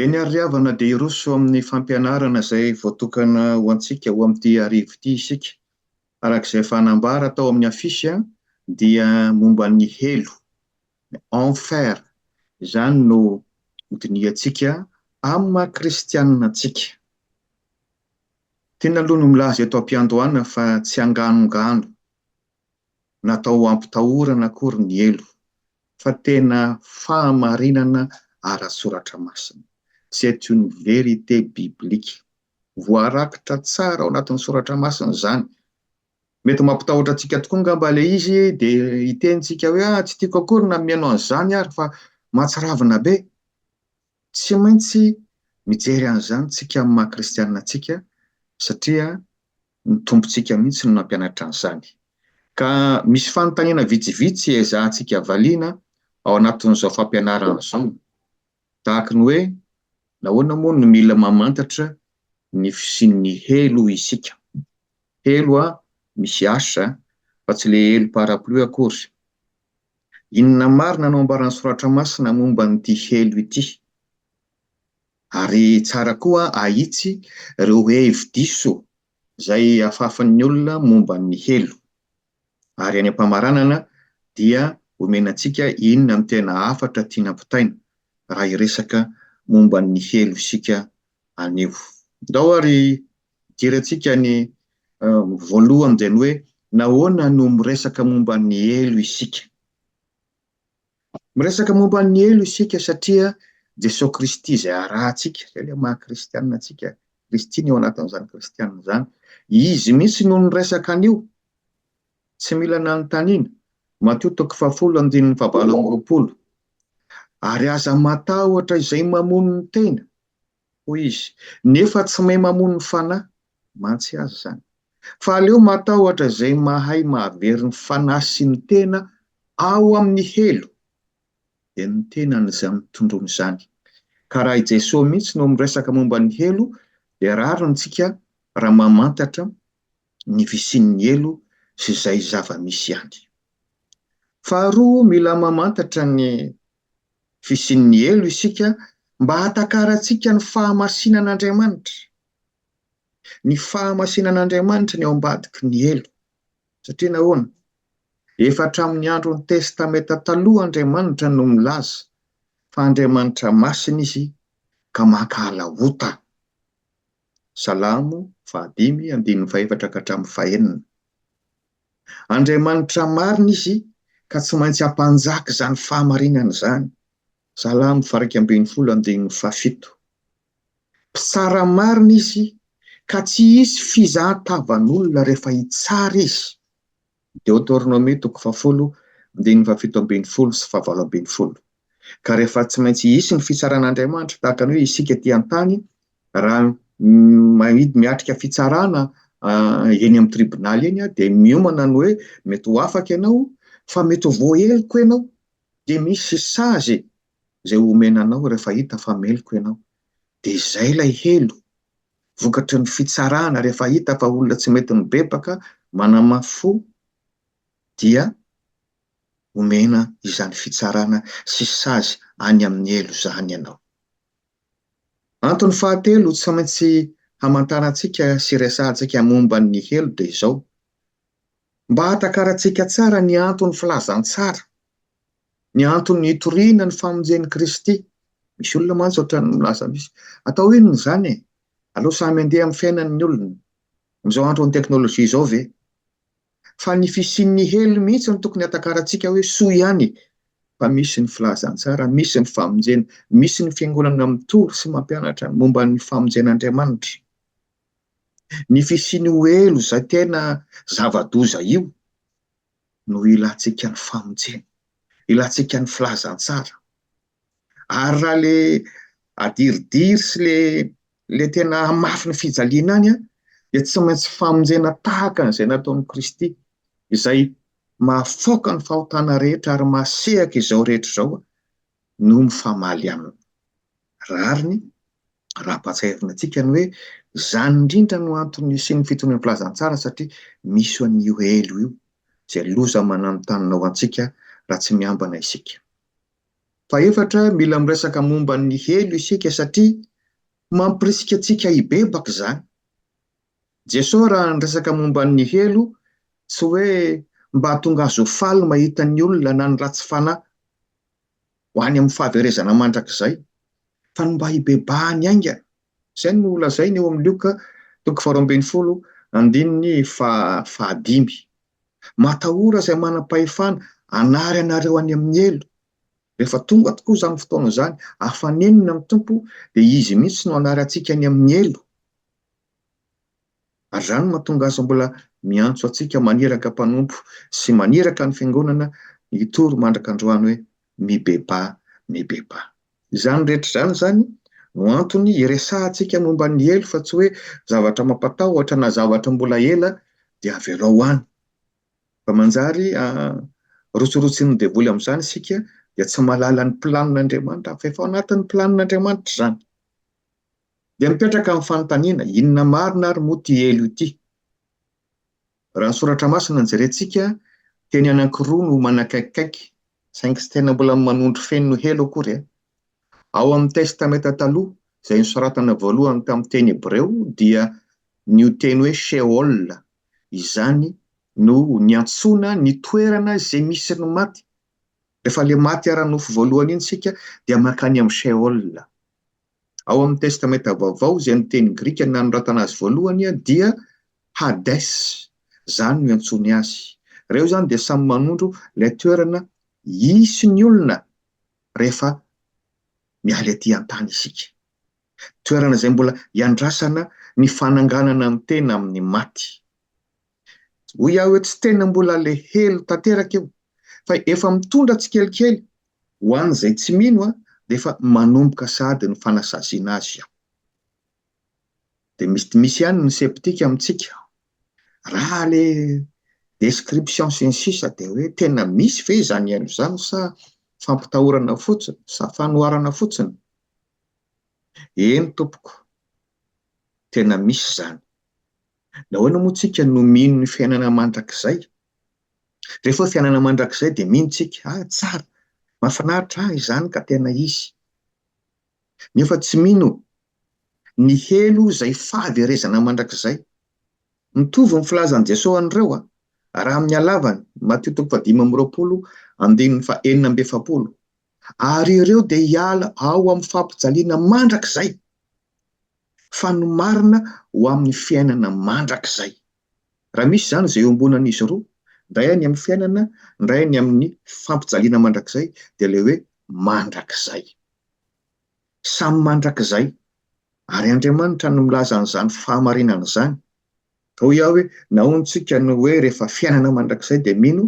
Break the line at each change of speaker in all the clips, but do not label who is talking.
Eny ary ry havana dia hiroso amin'ny fampianarana izay voatokana ho antsika ho amin'ity arivo ity isika. Araka izay efa nambara tao amin'ny afisy dia momba ny helo, enfer, izany no hodinihantsika amin'ny maha kristianina antsika. Tiana aloha ny milaza eto am-piandohana fa tsy anganongano. natao hampitahorana akory ny helo fa tena fahamarinana ara-tsoratra masina. C'est une vérité biblique. Voarakitra tsara ao anatin'ny soratra masina izany. Mety mampitahotra antsika tokoa angamba ilay izy dia hitentsika hoe ah, tsy tiako akory na mihaino an'izany ary fa mahatsiravina be. Tsy maintsy mijery an'izany tsika amin'ny maha kristianina antsika satria ny Tompontsika mihitsy no nampianatra an'izany. Ka misy fanontaniana vitsivitsy hiezahantsika valiana ao anatin'izao fampianarana izao, tahaka ny hoe, Nahoana moa no mila mamantatra ny fisian'ny helo isika? Helo a, misy H a, fa tsy ilay helo parapluie akory. Inona marina no ambaran'ny Soratra Masina momba an'ity helo ity? Ary tsara koa ahitsy ireo hevi-diso izay afafin'ny olona momba ny helo. Ary any am-pamaranana dia omena antsika inona no tena hafatra tiana ampitaina raha hiresaka momba ny helo isika anio. Ndao ary hidirantsika ny voaloha amin'izay ny hoe, Nahoana no miresaka momba ny helo isika? Miresaka momba ny helo isika satria Jesoa Kristy izay arahantsika, izay ilay maha kristianina antsika, Kristy ny ao anatin'izany kristianina izany. Izy mihitsy no niresaka an'io, tsy mila nanontaniana, Matio toko fahafolo andininy fahavalo amby roapolo. Ary aza matahotra izay mamono ny tena, hoy izy, nefa tsy mahay mamono ny fanahy mantsy aza izany. Fa aleo matahotra izay mahay mahavery ny fanahy sy ny tena ao amin'ny helo, dia ny tenany izany tondroiny izany. Ka raha i Jesoa mihitsy no miresaka momba ny helo, dia rariny tsika raha mamantatra ny fisian'ny helo sy izay zava-misy any. Faharoa, mila mamantatra ny Fisian'ny helo isika mba hahatakarantsika ny fahamasinan'Andriamanitra. Ny fahamasinan'Andriamanitra no eo ambadiky ny helo. Satria nahoana? Efa hatramin'ny andron'ny Testamenta Taloha Andriamanitra no milaza fa Andriamanitra masina izy ka mankahala ota. Salamo fahadimy andininy fahefatra ka hatramin'ny fahenina. Andriamanitra marina izy ka tsy maintsy hampanjaka izany fahamarinana izany. Salamo faha iraika ambin'ny folo andininy faha fito. Mpitsara marina izy ka tsy hisy fizahan-tavan'olona rehefa hitsara izy. Deoteronomia toko faha folo andininy faha fito ambin'ny folo sy faha valo ambin'ny folo. Ka rehefa tsy maintsy hisy ny fitsaran'Andriamanitra tahaka ny hoe isika ety an-tany, raha maid- miatrika fitsarana eny amin'ny tribonaly eny aho dia miomana ny hoe mety ho afaka ianao fa mety ho voaheloka ianao, dia misy sazy e! izay omena anao rehefa hita fa meloka ianao. Dia izay ilay helo, vokatry ny fitsarana, rehefa hita fa olona tsy mety mibebaka, manamafy fo, dia. omena izany fitsarana sy sazy any amin'ny helo izany ianao. Antony fahatelo tsy maintsy hamantarantsika sy resahantsika momba ny helo dia izao, mba hahatakarantsika tsara ny anton'ny filazantsara, ny antony hitoriana ny famonjen'i Kristy. Misy olona mantsy ohatran'ny milaza misy, atao inona izany e? Aleo samy handeha amin'ny fiainany ny olona. Amin'izao andron'ny teknolojia izao ve? fa ny fisian'ny helo mihitsy no tokony hatakarantsika hoe soa ihany fa misy ny filazantsara, misy ny famonjena, misy ny fiangonana mitory sy mampianatra momba ny famonjen'Andriamanitra. Ny fisian'io helo izay tena zava-doza io no ilantsika ny famonjena, ilantsika ny filazantsara. Ary raha le adiridiry sy le ilay tena hamafy ny fijaliana any an, dia tsy maintsy famonjena tahaka an'izay nataon'i Kristy, izay mahafaoka ny fahotana rehetra ary mahasehaka izao rehetra izao, no mifamaly aminy. Rariny raha ampahatsiahivina antsika ny hoe izany indrindra no antony nisian'ny fitonian'ny filazantsara satria misy an'io helo io, izay loza mananontanona ho antsika raha tsy miambana isika. Fahefatra, mila miresaka momba ny helo isika satria mampirisika antsika hibebaka izany. Jesosy raha niresaka momba ny helo tsy hoe mba hahatonga azy ho faly mahita ny olona na ny ratsy fanahy ho any amin'ny fahaverezana mandrakizay fa ny mba hibebahany haingana. Izay no lazainy eo amin'ny Lioka toko faharoa ambin'ny folo andininy fahadimy. Matahora izay manam-pahefana hanary anareo any amin'ny helo. Rehefa tonga tokoa izany fotoana izany, afanenina ny Tompo, dia Izy mihitsy no hanary antsika any amin'ny helo. Ary izany no mahatonga Azy mbola miantso antsika maniraka mpanompo sy maniraka ny Fiangonana hitory mandrak'androany hoe, mibebaha mibebaha. Izany rehetra izany izany no antony iresahantsika momba ny helo fa tsy hoe zavatra mampatahotra na zavatra mbola ela dia avela ho any. Fa manjary rotsirotsin'ny devoly amin'izany isika dia tsy mahalala ny planin'Andriamanitra fa efa ao anatin'ny planin'Andriamanitra izany. Dia mipetraka ny fanontaniana, inona marina ary moa ity helo ity? Raha ny Soratra Masina no jerentsika, teny anankiroa no manakaikikaiky, saingy tsy tena mbola manondro feno ny helo akory e. Ao amin'ny Testamenta Taloha, izay nosoratana voalohany tamin'ny teny hebreo, dia ny io teny hoe Sheol izany no niantsoana ny toerana izay misy ny maty. Rehefa ilay maty ara-nofo voalohany iny isika, dia mankany amin'ny Sheol. Ao amin'ny Testamenta Vaovao, izay ny teny grika nanoratana azy voalohany dia Hades, izany no iantsoany azy. Ireo izany dia samy manondro ilay toerana hisy ny olona rehefa miala ety an-tany isika. Toerana izay mbola iandrasana ny fananganana ny tena amin'ny maty. Hoy aho eo tsy tena mbola le helo tanteraka io fa efa mitondra tsikelikely ho an'izay tsy mino a dia efa manomboka sahady ny fanasaziana azy aho. Dia mety misy ihany ny septika amintsika. Raha le description sy ny sisa dia hoe tena misy ve izany haino izany sa fampitahorana fotsiny sa fanoharana fotsiny? Eny tompoko, tena misy izany. Nahoana moa tsika no mino ny fiainana mandrakizay? Rehefa hoe fiainana mandrakizay dia mino tsika, ah tsara, mahafinaritra ah izany ka tena izy. Nefa tsy mino ny helo izay fahaverezana mandrakizay. Mitovy ny filazan'i Jesoa an'ireo ah, raha amin'ny halavany, Matio toko fahadimy amby roapolo andininy faha enina amby efapolo, ary ireo dia hiala ao amin'ny fampijaliana mandrakizay. fa ny marina ho amin'ny fiainana mandrakizay. Raha misy izany izay iombonan'izy roa, indray any amin'ny fiainana, indray any amin'ny fampijaliana mandrakizay, dia ilay hoe mandrakizay. Samy mandrakizay. Ary Andriamanitra no milaza an'izany fahamarinana izany. Ka hoy aho hoe, nahoana isika no hoe rehefa fiainana mandrakizay dia mino,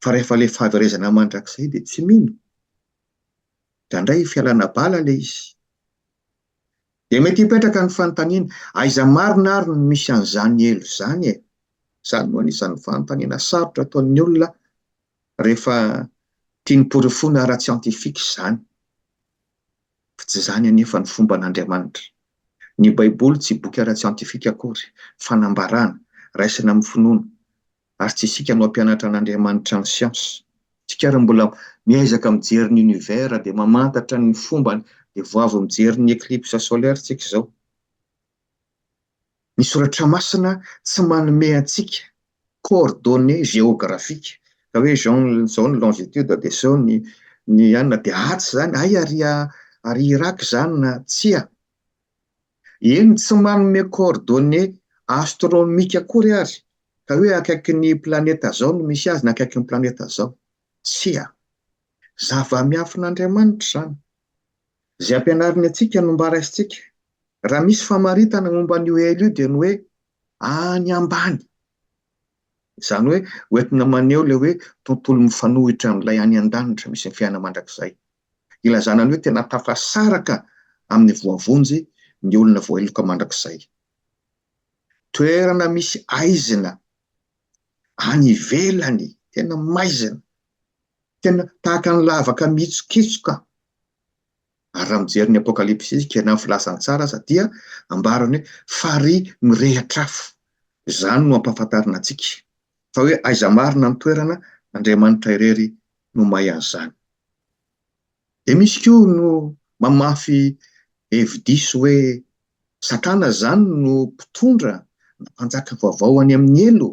fa rehefa ilay fahaverezana mandrakizay dia tsy mino? Indraindray fialana bala ilay izy. Dia mety hipetraka ny fanontaniana, aiza marina ary no misy an'izany helo izany e? Izany no anisan'ny fanontaniana sarotra ataon'ny olona rehefa tiany porofoina ara-tsiantifika izany. Fa tsy izany anefa ny fomban'Andriamanitra. Ny Baiboly tsy boky ara-tsiantifika akory, fanambarana, raisina amin'ny finoana, ary tsy isika no hampianatra an'Andriamanitra ny siansa. Isika ary mbola miezaka mijery ny univers dia mamantatra ny fombany dia vao avy mijery ny eclipse solaire isika izao. Ny soratra masina tsy manome antsika coordonnées géographiques ka hoe izao izao ny longitude dia izao ny ny anona dia atsy izany, hay ary ary Irak izany na tsia. Eny, tsy manome coordonnées astronomiques akory ary, ka hoe akaikin'ny planeta zao no misy azy na akaikin'ny planeta zao. Tsia. Zava-miafin'Andriamanitra izany. Izay ampianariny antsika no mba raisintsika. Raha misy famaritana momba an'io hell io dia ny hoe any ambany. Izany hoe hoentina maneho ilay hoe tontolo mifanohitra amin'ilay any an-danitra misy ny fiainana mandrakizay. ilazana ny hoe tena tafasaraka amin'ny voavonjy ny olona voaheloka mandrakizay. Toerana misy aizina any ivelany, tena maizina, tena tahaka ny lavaka mihitsokitsoka. Ary raha mijery ny Apokalypsy isika, na ny Filazantsara aza, dia ambarany hoe farihy mirehitra afo. Izany no ampahafantarina antsika fa hoe aiza marina ny toerana, Andriamanitra irery no may an'izany. Dia misy koa no mamafy hevi-diso hoe Satana izany no mpitondra na mpanjaka vaovao any amin'ny helo.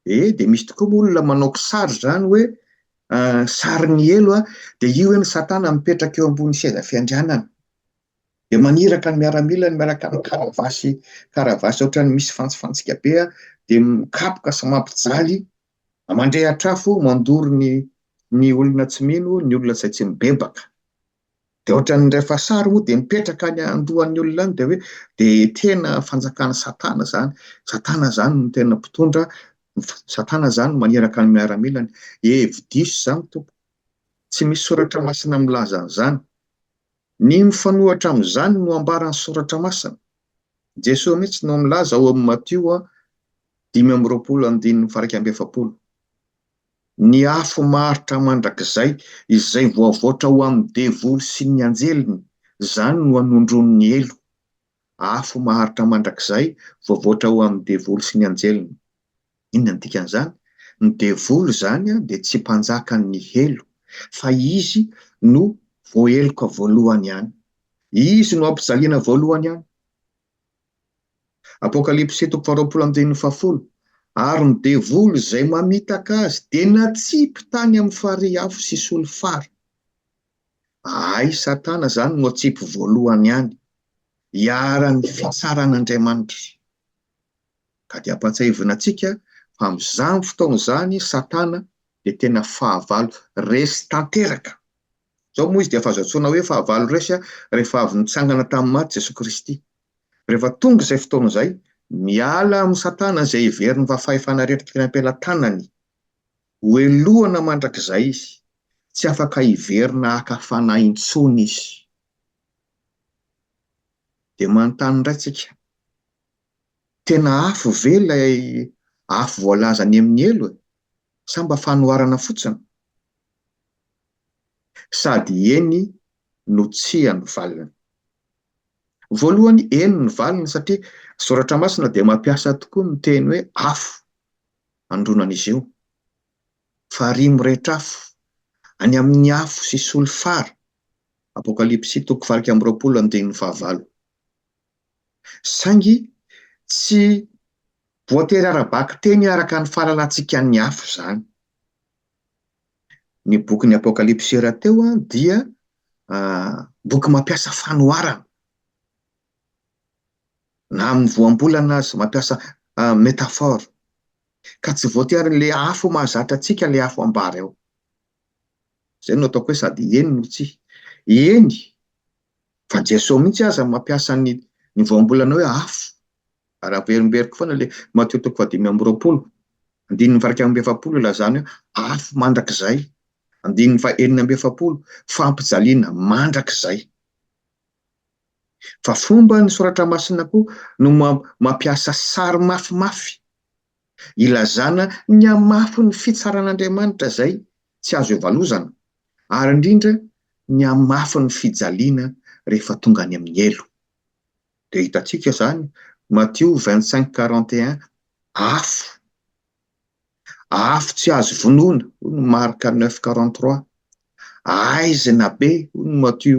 E, dia misy tokoa moa olona manao kisary izany hoe sarin'ny helo dia io eny Satana mipetraka eo ambony seza fiandrianana. Dia maniraka ny miaramilany miaraka amin'ny karavasy, karavasy ohatran'ny misy fantsifantsika be dia mikapoka sy mampijaly Mandre hatrafo mandoro ny ny olona tsy mino ny olona izay tsy mibebaka dia ohatran'ny rehefa sary moa dia mipetraka any andohan'ny olona any dia hoe dia tena fanjakan'i satana izany satana izany no tena mpitondra satana izany no maniraka ny miaramilany hevi-diso izany tompoko tsy misy soratra masina milaza an'izany Ny mifanohitra amin'izany no ambaran'ny Soratra Masina. Jesoa mihitsy no milaza ao amin'ny Matio dimy amby roapolo andininy faha iraika amby efapolo, Ny afo maharitra mandrakizay izay voavoatra ho amin'ny devoly sy ny anjeliny, izany no hanondroany ny helo. Afo maharitra mandrakizay voavoatra ho amin'ny devoly sy ny anjeliny. Inona no dikan'izany? Ny devoly izany dia tsy mpanjakan'ny helo, fa izy no voaheloka voalohany ihany. Izy no ampijaliana voalohany ihany. Apokalypsy toko faharoapolo andininy fahafolo, Ary ny devoly izay mamitaka azy dia natsipy tany amin'ny farihy afo sy solifara. Ay, Satana izany no atsipy voalohany ihany, iharan'ny fitsaran'Andriamanitra. Ka dia ampahatsiahivina antsika fa amin'izany fotoana izany Satana dia tena fahavalo resy tanteraka. Izao moa izy dia efa azo antsoina hoe fahavalo resy rehefa avy nitsangana tamin'ny maty Jesoa Kristy. Rehefa tonga izay fotoana izay, miala amin'i Satana izay heveriny fa fahefana rehetra tokony hampelatanany. Hohelohana mandrakizay izy. Tsy afaka hiverina haka fanahy intsony izy. Dia manontany indray tsika, tena afo ve ilay afo voalaza any amin'ny helo e? Sa mba fanoharana fotsiny? Sady eny no tsia no valiny. Voalohany eny ny valiny satria Soratra Masina dia mampiasa tokoa ny teny hoe afo handroana an'izy io. Farihy mirehitra afo, any amin'ny afo sy solifara Apokalypsy toko valo amby roapolo andininy fahavalo. Saingy tsy voatery ara-bakiteny araka ny fahalalantsikan'ny hafa izany. Ny bokin'ny Apokalypsy rahateo dia boky mampiasa fanoharana na amin'ny voambolana aza, mampiasa métaphore, ka tsy voatery ilay afo mahazatra antsika ilay afo ambara eo. Izay no ataoko hoe sady eny no tsia. Eny, fa Jesosy mihitsy aza mampiasa ny ny voambolana hoe afo. Ary averimberiko foana ilay Matio toko fahadimy amby roapolo, andininy fahairaika amby efapolo ilazana hoe afo mandrakizay. Andininy fahenina amby efapolo, fampijaliana mandrakizay. Fa fomba ny Soratra Masina koa no mampiasa sary mafimafy. ilazana ny hamafin'ny fitsaran'Andriamanitra izay tsy azo ivalozana, ary indrindra ny hamafin'ny fijaliana rehefa tonga any amin'ny helo. Dia hitantsika izany, Matio vingt cinq quarante et un, afo, afo tsy azo vonoina, hoy ny Marka neuf quarante trois, aizina be, hoy ny Matio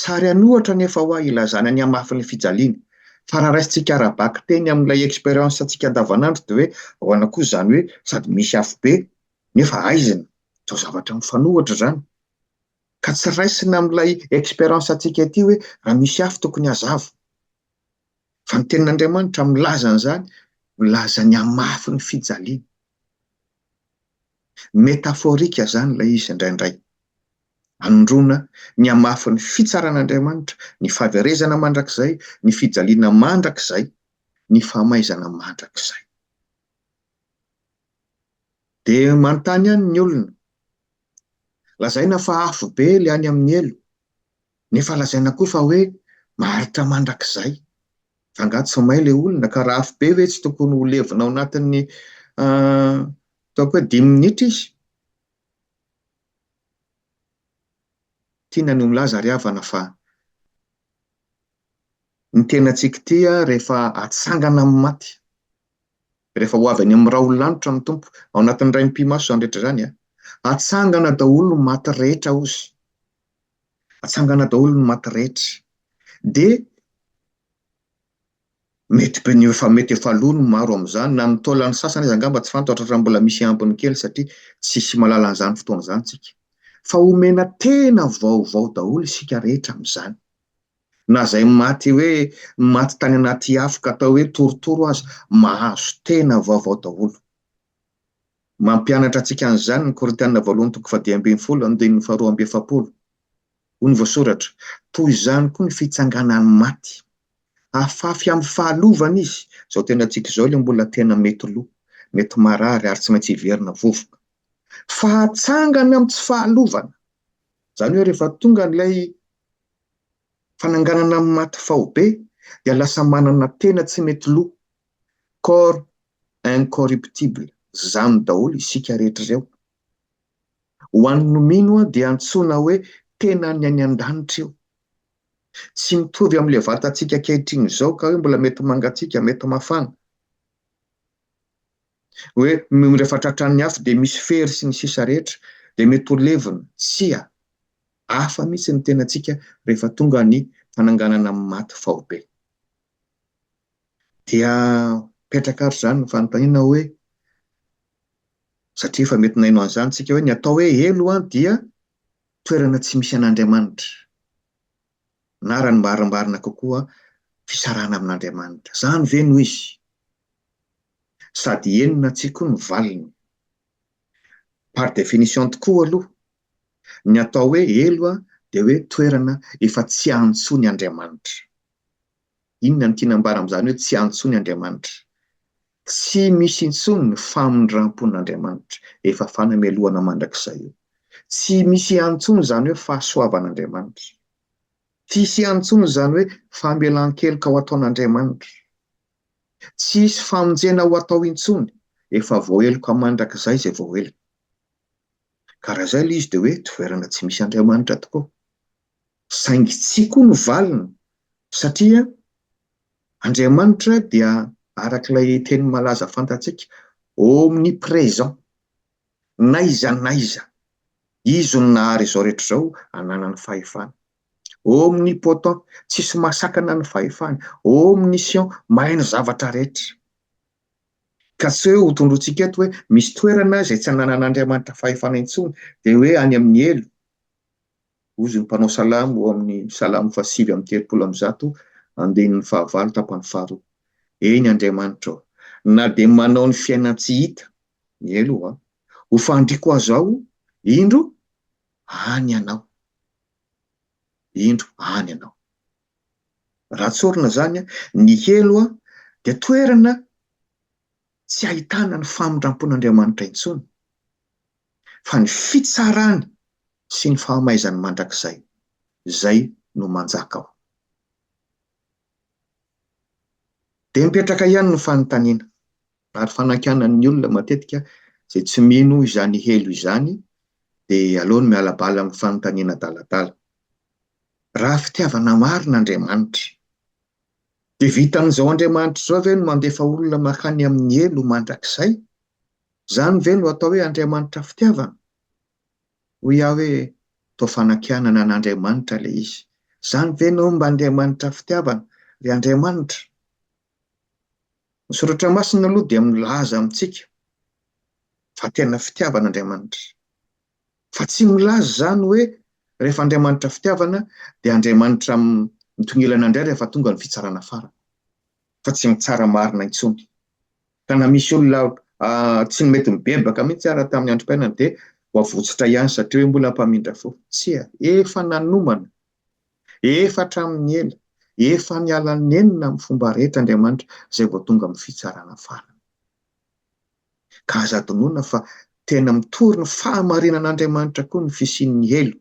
Sary an'ohatra anefa hoa ilazana ny hamafin'ny fijaliana. Fa raha raisintsika ara-bakiteny amin'ilay expérience-ntsika andavanandro dia hoe ahoana kosa izany hoe sady misy afobe nefa haizina? Toa zavatra mifanohitra izany. Ka tsy raisina amin'ilay expérience-ntsika ity hoe raha misy afo tokony hazava. Fa ny tenin'Andriamanitra milaza an'izany, milaza ny hamafin'ny fijaliana. Métaphorique izany ilay izy indraindray. Anondroana ny hamafin'ny fitsaran'Andriamanitra, ny fahaverezana mandrakizay, ny fijaliana mandrakizay, ny famaizana mandrakizay. Dia manontany ihany ny olona. Lazaina fa afobe ilay any amin'ny helo, nefa lazaina koa fa hoe maharitra mandrakizay. Fa angaha tsy may ilay olona ka raha afobe ve tsy tokony ho levona ao anatin'ny ataoko hoe dimy minitra izy? Tiana ny ho milaza ry havana fa ny tenantsika ity rehefa atsangana amin'ny maty, rehefa ho avy any amin'ny raolin'lanitra ny Tompo, ao anatin'ny Rain'ny pi-maso izany rehetra izany, hatsangana daholo ny maty rehetra hozy, hatsangana daholo ny maty rehetra, dia Mety be ny efa mety efa lo ny maro amin'izany, na ny taolan'ny sasany aza angamba tsy fantatra raha mbola misy ambiny kely satria tsy hisy mahalala an'izany fotoana izany isika. Fa omena tena vaovao daholo isika rehetra amin'izany. Na izay maty hoe maty tany anaty afo ka atao hoe torotoro aza, mahazo tena vaovao daholo. Mampianatra antsika an'izany ny Korintiana Voalohany toko fahadimy ambin'ny folo, andininy faharoa amby efapolo. Hoy ny voasoratra, Toy izany koa ny fitsanganan'ny maty. Afafy amin'ny fahalovana izy. Izao tenantsika izao ilay mbola tena mety lo, mety marary ary tsy maintsy hiverina vovoka. Fahatsangana amin'ny tsy fahalovana. Izany hoe rehefa tonga ilay fananganana amin'ny maty faobe dia lasa manana tena tsy mety lo, corps incorruptible. Izany daholo isika rehetra ireo. Ho an'ny nomino dia antsoina hoe tenan'ny any an-danitra io. Tsy mitovy amin'ilay vatantsika ankehitriny izao ka hoe mbola mety mangatsiaka, mety mafana. Hoe rehefa tratran'ny afo dia misy fery sy ny sisa rehetra dia mety ho levona. Tsia. Hafa mihitsy ny tenantsika rehefa tonga ny fananganana amin'ny maty faobe. Dia mipetraka ary izany ny fanontaniana hoe satria efa mety naino an'izany isika hoe ny atao hoe helo an dia toerana tsy misy an'Andriamanitra na raha ny marimbarina kokoa fisarahana amin'Andriamanitra. Izany ve no izy? Sady henona antsika koa ny valiny. Par définition tokoa aloha, ny atao hoe helo an dia hoe toerana efa tsy antso ny Andriamanitra. Inona no tiana ambara amin'izany hoe tsy antso ny Andriamanitra? Tsy misy intsony ny famindram-pon'Andriamanitra, efa fanamelohana mandrakizay io. Tsy misy ihany intsony izany hoe fahasoavan'Andriamanitra. Tsy hisy ihany intsony izany hoe famelan-keloka ho ataon'Andriamanitra. Tsy hisy famonjena ho atao intsony, efa voaheloka mandrakizay izay voaheloka. Ka raha izay ilay izy dia hoe toerana tsy misy Andriamanitra tokoa. Saingy tsia koa no valiny, satria Andriamanitra dia araka ilay teny malaza fantatsika omnipresent, n'aiza n'aiza, Izy no nahary izao rehetra izao ananany fahefana. Omnipotent, tsisy mahasakana ny fahefany, omniscient, mahay ny zavatra rehetra. Ka tsy hoe hotondrointsika eto hoe misy toerana izay tsy ananan'Andriamanitra fahefana intsony, dia hoe any amin'ny helo, Hozy ny mpanao salamo ao amin'ny Salamo fahasivy amby telopolo amby zato, andininy fahavalo tapany faharoa, Eny Andriamanitra ô, na dia manao ny fiainan-tsy hita, miely ho aho, ho fandriako aza aho, indro, any Ianao. Indro, any Ianao. Raha tsorina izany, ny helo dia toerana tsy ahitana ny famindram-pon'Andriamanitra intsony. fa ny fitsarany sy ny fahamaizany mandrakizay izay no manjaka ao. Dia mipetraka ihany ny fanontaniana, ary fanankianan'ny olona matetika izay tsy mino izany helo izany dia aleo ny miala bala amin'ny fanontaniana adaladala. Raha fitiavana marina Andriamanitra, dia vitan'izao Andriamanitra izao ve no mandefa olona mankany amin'ny helo mandrakizay? Izany ve no atao hoe Andriamanitra fitiavana? Hoy aho hoe, toa fanakianana an'Andriamanitra ilay izy. Izany ve no mba Andriamanitra fitiavana? Ry Andriamanitra! Ny Soratra Masina aloha dia milaza amintsika fa tena fitiavana Andriamanitra. Fa tsy milaza izany hoe rehefa Andriamanitra fitiavana dia Andriamanitra mitongilana indray rehefa tonga ny fitsarana farany. Fa tsy mitsara marina intsony. Tena misy olona tsy mety mibebaka mihitsy ary tamin'ny androm-piainany dia voavotsotra ihany satria hoe mbola mpamindra fo. Tsia, efa nanomana, efa hatramin'ny ela, efa niala nenina amin'ny fomba rehetra Andriamanitra izay vao tonga amin'ny fitsarana farany. Ka aza adinoina fa tena mitory ny fahamarinan'Andriamanitra koa ny fisian'ny helo,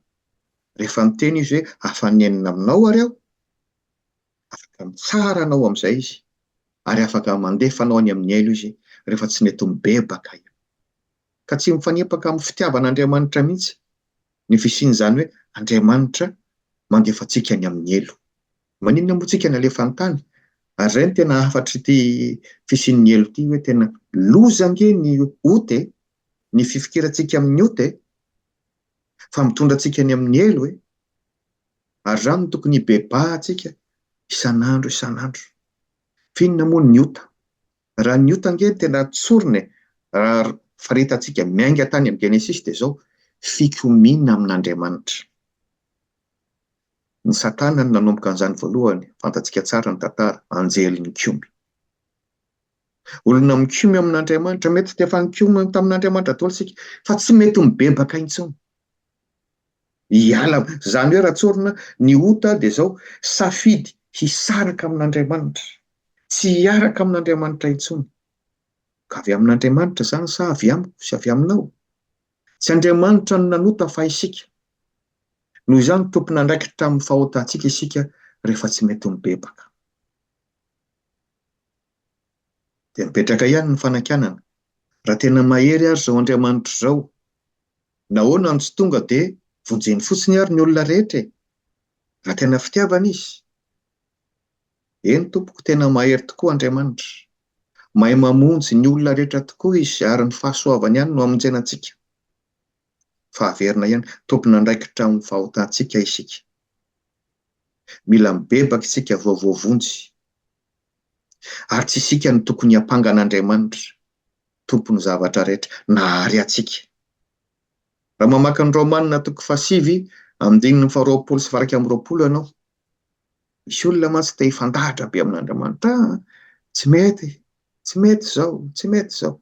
rehefa miteny Izy hoe afa-nenina aminao ary aho, Afaka mitsara anao amin'izay Izy, ary afaka mandefa anao any amin'ny hailo Izy rehefa tsy nety mibebaka io. Ka tsy mifanipaka amin'ny fitiavan'Andriamanitra mihitsy ny fisian'izany hoe Andriamanitra mandefa antsika any amin'ny hailo. Maninona moa tsika nalefa an-tany? Ary izay no tena hafatr'ity fisian'ny hailo ity hoe tena loza ange ny ota e! Ny fifikirantsika amin'ny ota e! Fa mitondra antsika any amin'ny hailo e! ary izany no tokony hibebahantsika isan'andro isan'andro. F'inona moa ny ota? Raha ny ota ange no tena tsorina e, raha faritrantsika miainga tany amin'ny Genesisy dia izao, fikomiana amin'Andriamanitra. Ny Satana no nanomboka an'izany voalohany, fantatsika tsara ny tantara, anjely nikomy. Olona mikomy amin'Andriamanitra, mety dia efa nikomy tamin'Andriamanitra daholo isika, fa tsy mety mibebaka intsony. Hiala am. Izany hoe Ratsorona, ny ota dia izao, safidy hisaraka amin'Andriamanitra, tsy hiaraka amin'Andriamanitra intsony. Ka avy amin'Andriamanitra izany sa avy amiko sy avy aminao? Tsy Andriamanitra no nanota fa isika. Noho izany tompon'andraikitra amin'ny fahotantsika isika rehefa tsy mety mibebaka. dia mipetraka ihany ny fanakianana. Raha tena mahery ary izao Andriamanitra izao, nahoana no tsy tonga dia vonjeny fotsiny ary ny olona rehetra e? Raha tena fitiavana izy. Eny tompoko, tena mahery tokoa Andriamanitra. Mahay mamonjy ny olona rehetra tokoa izy ary ny fahasoavany ihany no amonjena antsika. Fa averina ihany, tompon'andraikitra amin'ny fahotantsika isika. Mila mibebaka isika vao voavonjy. Ary tsy isika no tokony hiampanga an'Andriamanitra, Tompon'ny zavatra rehetra, na àry antsika. Raha mamaky ny Raomanina toko fahasivy, andininy faharoapolo sy varaika amby roapolo ianao, misy olona mantsy te hifandahatra be amin'Andriamanitra, ah, tsy mety, tsy mety izao, tsy mety izao.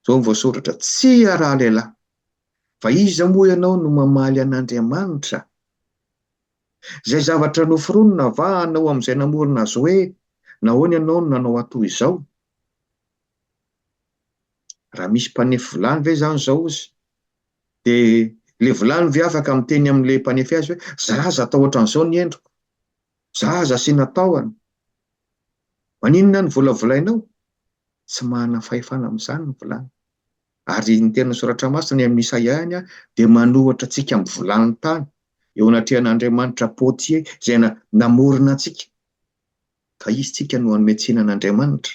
Izao no voasoratra, tsy hiaraha lehilahy. Fa iza moa ianao no mamaly an'Andriamanitra? Izay zavatra noforonina va anao amin'izay namorona azy hoe nahoana ianao no nanao atoa izao? Raha misy mpanefy vilany ve izany izao ozy dia ilay vilany ve afaka miteny amin'ilay mpanefy azy hoe za aza atao ohatran'izao ny endriko, za aza asiana tahony, maninona no volavolainao? Tsy manana fahefana amin'izany ny vilany. Ary ny tenan'ny Soratra Masina, ny amin'i Isaia ihany, dia manohitra antsika amin'ny volantany eo anatrehan'Andriamanitra Potier izay namorona antsika, ka izy tsika no hanome tsiny an'Andriamanitra.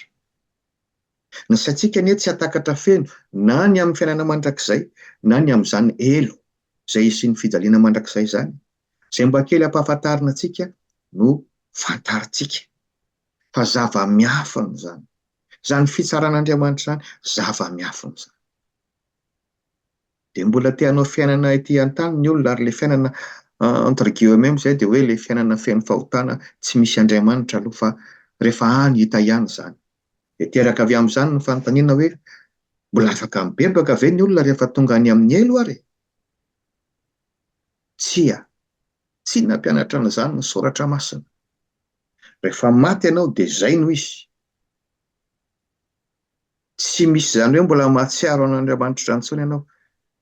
Ny saintsika anie tsy hatakatra feno na ny amin'ny fiainana mandrakizay na ny amin'izany helo izay hisian'ny fijaliana mandrakizay izany. Izay mba kely ampahafantarina antsika no fantarintsika. fa zava-miafina izany. Izany fitsaran'Andriamanitra izany zava-miafina izany. Dia mbola te hanao fiainana ety an-tany ny olona ary ilay fiainana entre guillemets izay dia hoe ilay fiainana feno fahotana tsy misy Andriamanitra aloha fa rehefa any hita ihany izany. Dia teraka avy amin'izany ny fanontaniana hoe mbola afaka mibebaka ve ny olona rehefa tonga any amin'ny helo ary e? Tsia, tsy nampianatra an'izany ny Soratra Masina. Rehefa maty ianao dia izay no izy. Tsy misy izany hoe mbola mahatsiaro an'Andriamanitra izany intsony ianao.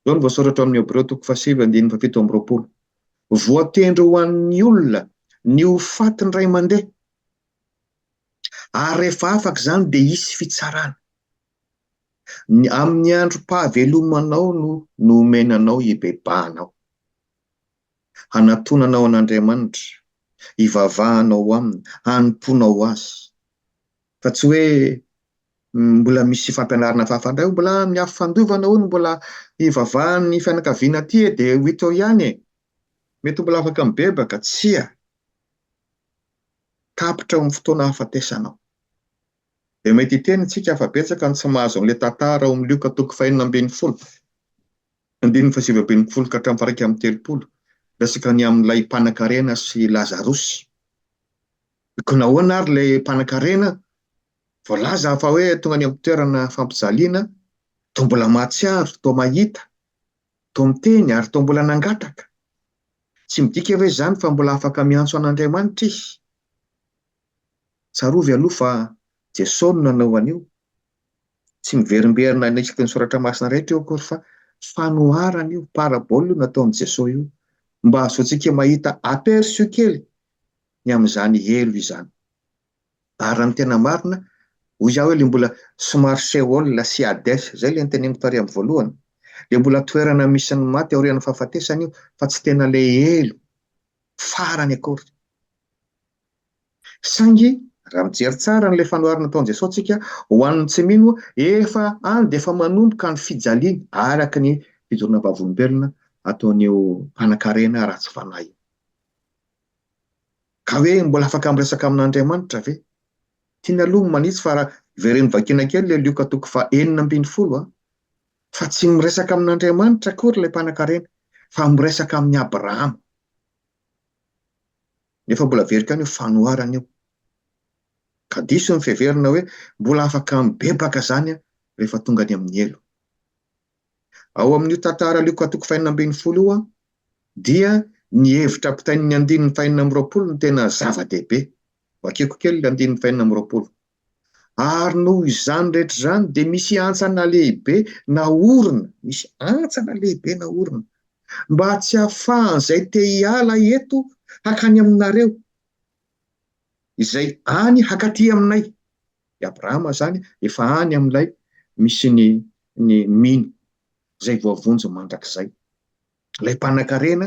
Izao no voasoratra ao amin'ny Hebreo toko fahasivy andininy fahafito amby roapolo. Voatendry ho an'ny olona ny ho faty indray mandeha. Ary rehefa afaka izany dia hisy fitsarana. Ny amin'ny androm-pahavelomanao no nomenanao hibebahanao. Hanatonanao an'Andriamanitra, hivavahanao Aminy, hanompoanao Azy. Fa tsy hoe mbola misy fampianarana hafahafa indray hoy, mbola amin'ny Afo Fandovana hono mbola hivavahan'ny fianakaviana aty e, dia ho hita eo ihany e. Mety ho mbola afaka mibebaka, tsia. Tapitra eo amin'ny fotoana hahafatesanao. dia mety hiteny isika fa betsaka ny tsy mahazo an'ilay tantara ao amin'ny Lioka toko fahenina ambin'ny folo, andininy fahasivy ambin'ny folo ka hatramin'ny faharaika amby telopolo, miresaka ny amin'ilay mpanankarena sy Lazarosy. Koa nahoana ary ilay mpanankarena voalaza fa hoe tonga any amin'ny toerana fampijaliana, toa mbola mahatsiaro, toa mahita, toa miteny ary toa mbola nangataka? Tsy midika ve izany fa mbola afaka miantso an'Andriamanitra izy? Tsarovy aloha fa Jesosy no nanao an'io. Tsy miverimberina any isaky ny soratra masina rehetra io akory fa fanoharana io, parabole io nataon'i Jesosy io mba hahazoantsika mahita aperçu kely ny amin'izany helo izany. Ary raha ny tena marina, hoy aho ilay mbola somary Sheol sy Hades, izay ilay noteneniko tary amin'ny voalohany, dia mbola toerana misy ny maty aorian'ny fahafatesana io fa tsy tena ilay helo farany akory. Saingy raha mijery tsara an'ilay fanoharana nataon'i Jesosy antsika ho an'ny tsy mino, efa any dia efa manomboka ny fijaliany araka ny fijoroana vavolombelona ataon'io mpanankarena ratsy fanahy io. Ka hoe mbola afaka miresaka amin'Andriamanitra ve? Tiany aloha ny manitsy fa raha very ny vakiana kely ilay Lioka toko faha enina ambin'ny folo a! Fa tsy miresaka amin'Andriamanitra akory ilay mpanankarena fa miresaka amin'i Abrahama. Nefa mbola very ihany io fanoharana io. Ka diso ny fiheverana hoe mbola afaka mibebaka izany rehefa tonga any amin'ny helo. Ao amin'io tantara Lioka toko fahenina ambin'ny folo io dia ny hevitra ampitain'ny andininy fahenina amby roapolo no tena zava-dehibe. Vakiko kely ilay andininy fahenina amby roapolo. Ary noho izany rehetra izany dia misy hantsana lehibe naorina, misy hantsana lehibe naorina, mba tsy hahafahan'izay te hiala eto hankany aminareo, izay any hankaty aminay. I Abrahama izany efa any amin'ilay misy ny ny mino, izay voavonjy mandrakizay. ilay mpanankarena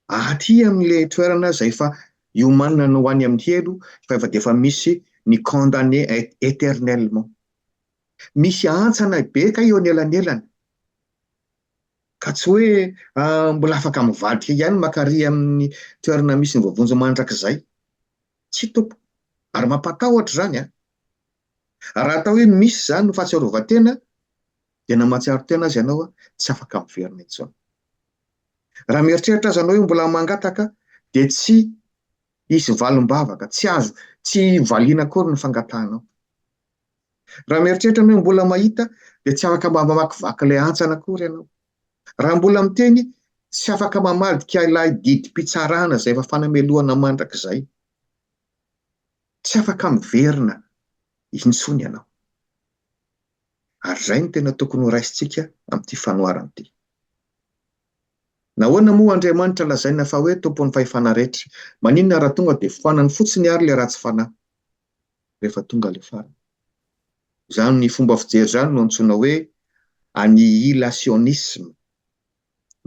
aty amin'ilay toerana izay efa iomanana ho any amin'ny helo fa efa dia efa misy ny condamné éternellement. Misy antsana be kay eo anelanelany ka tsy hoe ah, mbola afaka mivadika ihany makary amin'ny toerana misy ny voavonjy mandrakizay. Tsy toko. Ary mampatahotra izany an. Ah. Raha atao hoe misy izany no fahatsiarovan-tena Tena mahatsiaro tena aza ianao tsy afaka miverina intsony. Raha mieritreritra aza ianao hoe mbola mangataka dia tsy hisy valim-bavaka, tsy azo, tsy valiana akory ny fangatahanao. Raha mieritreritra ianao hoe mbola mahita dia tsy afaka mba mamakivaky ilay hantsana akory ianao. Raha mbola miteny tsy afaka mamadika ilay didim-pitsarana izay efa fanamelohana mandrakizay. Tsy afaka miverina intsony ianao. Ary izay no tena tokony ho raisintsika amin'ity fanoharana ity. Nahoana moa Andriamanitra lazaina fa hoe Tompon'ny fahefana rehetra? Maninona raha tonga dia foanany fotsiny àry ilay ratsy fanahy, rehefa tonga ilay farany? Izany fomba fijery izany no antsoina hoe annihilationisme.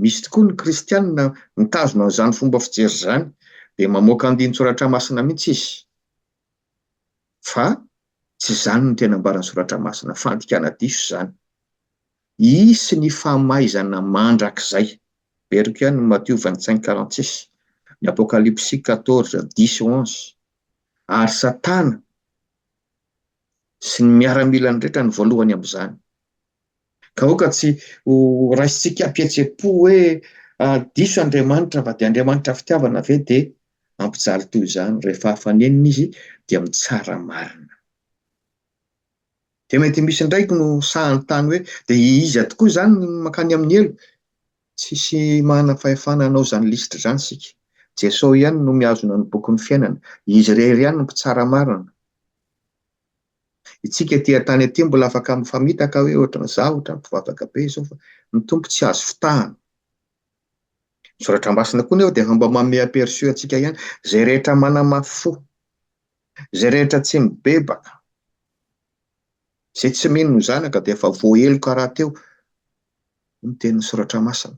Misy tokoa ny Kristianina mitazona an'izany fomba fijery izany, dia mamoaka andinin-tsoratra masina mihitsy izy. fa tsy izany no tena ambaran'ny Soratra Masina, fandikana diso izany. Hisy ny famaizana mandrakizay. Averiko ihany ny Matio vingt cinq quarante six, ny Apokalypsy quatorze dix et onze, ary Satana sy ny miaramilany rehetra no voalohany amin'izany. Ka aoka tsy ho raisintsika am-pihetseham-po hoe diso Andriamanitra fa dia Andriamanitra fitiavana ve dia hampijaly toy izany rehefa hafanenina izy dia mitsara marina. Dia mety misy indray no sahantany hoe dia iza tokoa izany ny mankany amin'ny helo? Tsisy manana fahefana hanao izany lisitra izany isika. Jesosy ihany no mihazona ny bokin'ny fiainana. Izy irery ihany no mpitsara marina. Itsika aty an-tany aty mbola afaka mifamitaka hoe ohatran'ny za ohatran'ny mpivavaka be izao fa ny Tompo tsy azo fitahana. Ny soratra masina koa nefa dia mba manome aperçu antsika ihany, izay rehetra manamafy fo, izay rehetra tsy mibebaka, izay tsy mino ny zanaka dia efa voaheloka rahateo ny tenin'ny Soratra Masina.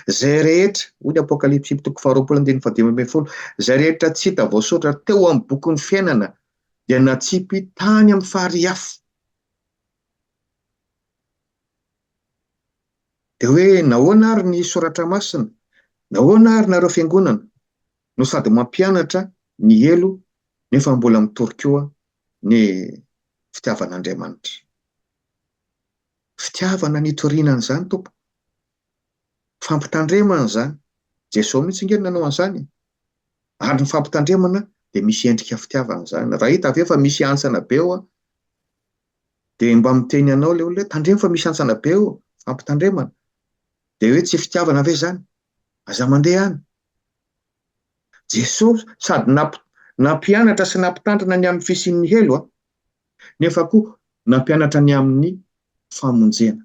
Izay rehetra, hoy ny Apokalypsy toko faharoapolo andininy fahadimy ambin'ny folo, izay rehetra tsy hita voasoratra teo amin'ny bokin'ny fiainana dia natsipy tany amin'ny farihy afo. Dia hoe nahoana ary ny Soratra Masina? Nahoana ary nareo fiangonana no sady mampianatra ny helo nefa mbola mitory koa ny fitiavan'Andriamanitra? Fitiavana nitoriana an'izany tompoko. Fampitandremana izany. Jesoa mihitsy ange no nanao an'izany e. Ary ny fampitandremana dia misy endrika fitiavana izany. Raha hita ve fa misy hantsana be eo an, dia mba miteny anao ilay olona hoe tandremo fa misy hantsana be eo, fampitandremana. Dia hoe tsy fitiavana ve izany? Aza mandeha any. Jesoa sady nampianatra sy nampitandrina ny amin'ny fisian'ny helo, nefa koa nampianatra ny amin'ny famonjena.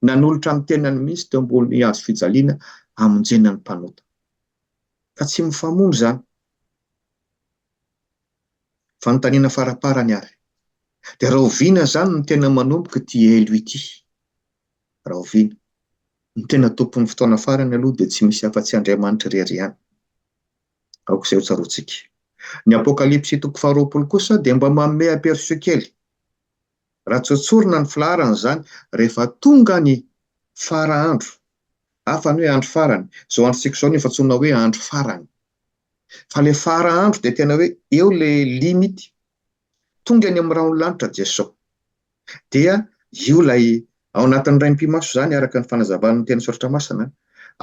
Nanolotra ny tenany mihitsy teo ambony hazo fijaliana hamonjena ny mpanota. Ka tsy mifamono izany. Fanontaniana faraparany ary, dia rahoviana izany no tena manomboka ity helo ity? rahoviana? Ny tena tompon'ny fotoana farany aloha dia tsy misy afa-tsy Andriamanitra irery ihany. Aoka izay hotsaroantsika. Ny Apokalypsy toko faharoapolo kosa dia mba manome aperçu kely, raha tsy hotsorina ny filaharana izany, rehefa tonga ny fara andro, hafa ny hoe andro farany, izao androntsika izao no efa antsoina hoe andro farany. Fa ilay fara andro dia tena hoe eo ilay limite, Tonga any amin'ny rahon'ny lanitra Jesosy. Dia io ilay ao anatin'ny raim-pimaso izany araka ny fanazavan'ny teny soratra masina,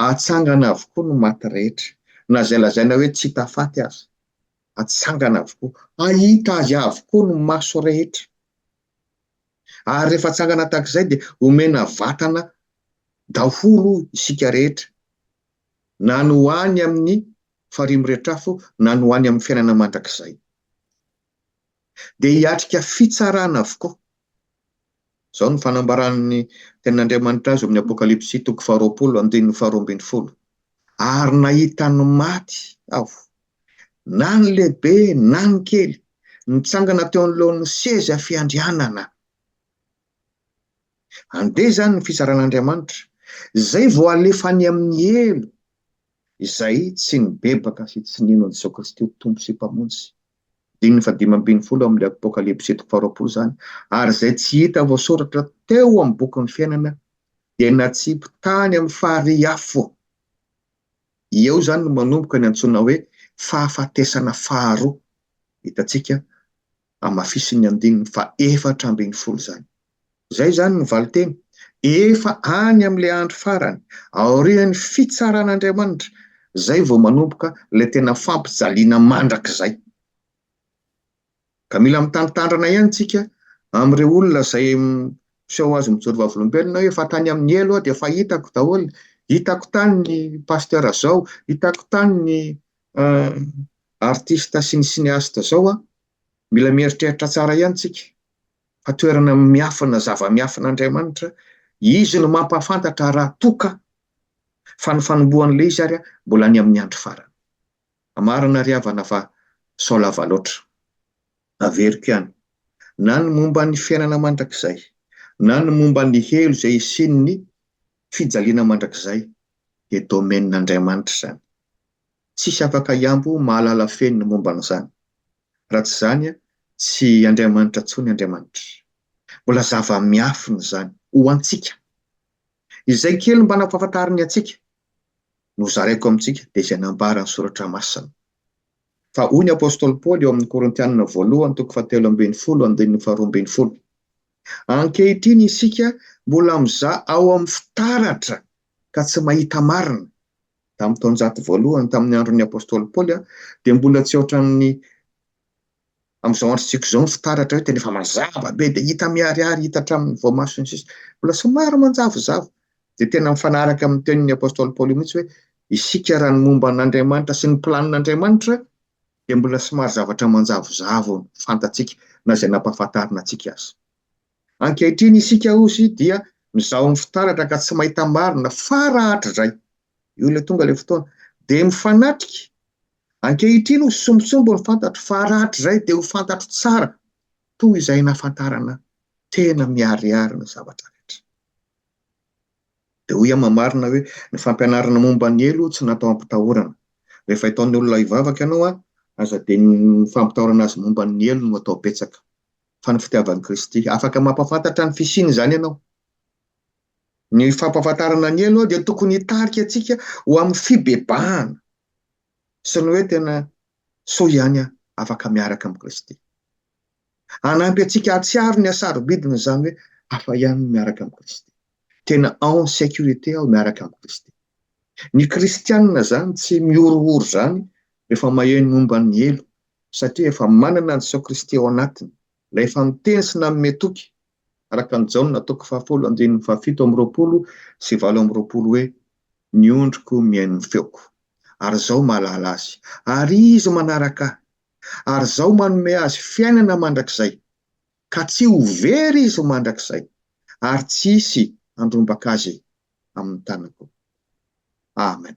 atsangana avokoa ny maty rehetra, na izay lazaina hoe tsy hita faty aza, atsangana avokoa, hahita azy avokoa ny maso rehetra. Ary rehefa atsangana tahaka izay dia omena vatana daholo isika rehetra, na ny ho any amin'ny farihy miretrafo na ny ho any amin'ny fiainana mandrakizay. dia hiatrika fitsarana avokoa. Izao no fanambaran'ny Tenin'Andriamanitra azy ao amin'ny Apokalypsy toko faharoapolo andininy faharoa ambin'ny folo, Ary nahita ny maty aho, na ny lehibe na ny kely, nitsangana teo anoloan'ny seza fiandrianana. Andeha izany ny fitsaran'Andriamanitra, izay vao alefa any amin'ny helo izay tsy nibebaka sy tsy nino an'i Jesoa Kristy ho Tompo sy Mpamonjy, andininy fahadimy ambin'ny folo ao amin'ilay Apokalypsy toko faharoapolo izany, ary izay tsy hita voasoratra teo amin'ny bokin'ny fiainana, dia natsipy tany amin'ny farihy afo. Eo izany no manomboka ny antsoina hoe fahafatesana faharoa, hitantsika hamafisin'ny andininy faha efatra ambin'ny folo izany. Izay izany ny valinteny, efa any amin'ilay andro farany, aorian'ny fitsaran'Andriamanitra, izay vao manomboka ilay tena fampijaliana mandrakizay. Ka mila mitandrintandrina ihany isika amin'ireo olona izay miseho azy mijoro vavolombelona hoe efa tany amin'ny helo aho dia efa hitako daholo, hitako tany ny pasteur izao, hitako tany ny artista sy ny cinéaste zao an, mila mieritreritra tsara ihany tsika fa toerana miafina zava-miafina Andriamanitra izy no mampahafantatra raha toa ka fa ny fanombohan'ilay izy ary mbola any amin'ny andro farany marina ry havana fa sao lava loatra averiko ihany na ny momba ny fiainana mandrakizay na ny momba ny helo izay hisian'ny fijaliana mandrakizay dia domaine Andriamanitra izany Tsisy afaka hihambo mahalala feno ny momba an'izany. Raha tsy izany, tsy Andriamanitra intsony Andriamanitra. Mbola zava-miafina izany, ho antsika. Izay kely mba nampahafantariny antsika, no zaraiko amintsika, dia izay nambaran'ny Soratra Masina. Fa hoy ny Apostoly Paoly ao amin'ny Korintianina Voalohany toko fahatelo ambin'ny folo andininy faharoa ambin'ny folo, Ankehitriny isika mbola mizaha ao amin'ny fitaratra ka tsy mahita marina, tamin'ny taonjato voalohany tamin'ny andron'ny apostoly Paoly dia mbola tsy ohatran'ny amin'izao androntsika izao ny fitaratra hoe tena efa mazava be dia hita miharihary hita hatramin'ny voamaso ny sisa mbola somary manjavozavo dia tena mifanaraka amin'ny tenin'ny apostoly Paoly mihitsy hoe isika raha ny momba an'Andriamanitra sy ny planin'Andriamanitra dia mbola somary zavatra manjavozavo fantatsika na izay nampahafantarina antsika azy. Ankehitriny isika hozy dia mizaho ny fitaratra ka tsy mahita marina fa rahatrizay, io ilay tonga ilay fotoana, dia mifanatrika. Ankehitriny hozy sombitsombo ny fantatro fa rahatrizay dia ho fantatro tsara toy izay nahafantarana tena miharihary ny zavatra rehetra. Dia hoy aho mamarina hoe ny fampianarana momba ny helo tsy natao hampitahorana. Rehefa hitaon'ny olona hivavaka ianao, aza dia ny fampitahorana azy momba ny helo no atao betsaka. fa ny fitiavan'i Kristy. Afaka mampahafantatra ny fisiany izany ianao. Ny fampahafantarana ny elo dia tokony hitarika antsika ho amin'ny fibebahana sy ny hoe tena soa ihany aho, afaka miaraka amin'i Kristy. Hanampy antsika hahatsiaro ny hasarobidina izany hoe hafa ihany miaraka amin'i Kristy. Tena en sécurité aho miaraka amin'i Kristy. Ny Kristianina izany tsy mihorohoro izany rehefa maheno momba ny elo satria efa manana an'i Jesoa Kristy ao anatiny, ilay efa miteny sy nanome toky, araka an'i Jaona toko fahafolo andininy fahafito amby roapolo sy valo amby roapolo hoe, Ny ondriko mihaino ny feoko, ary Izaho mahalala azy, ary izy manaraka Ahy, ary Izaho manome azy fiainana mandrakizay, ka tsy ho very izy mandrakizay, ary tsy hisy handrombaka azy amin'ny tanako. Amen.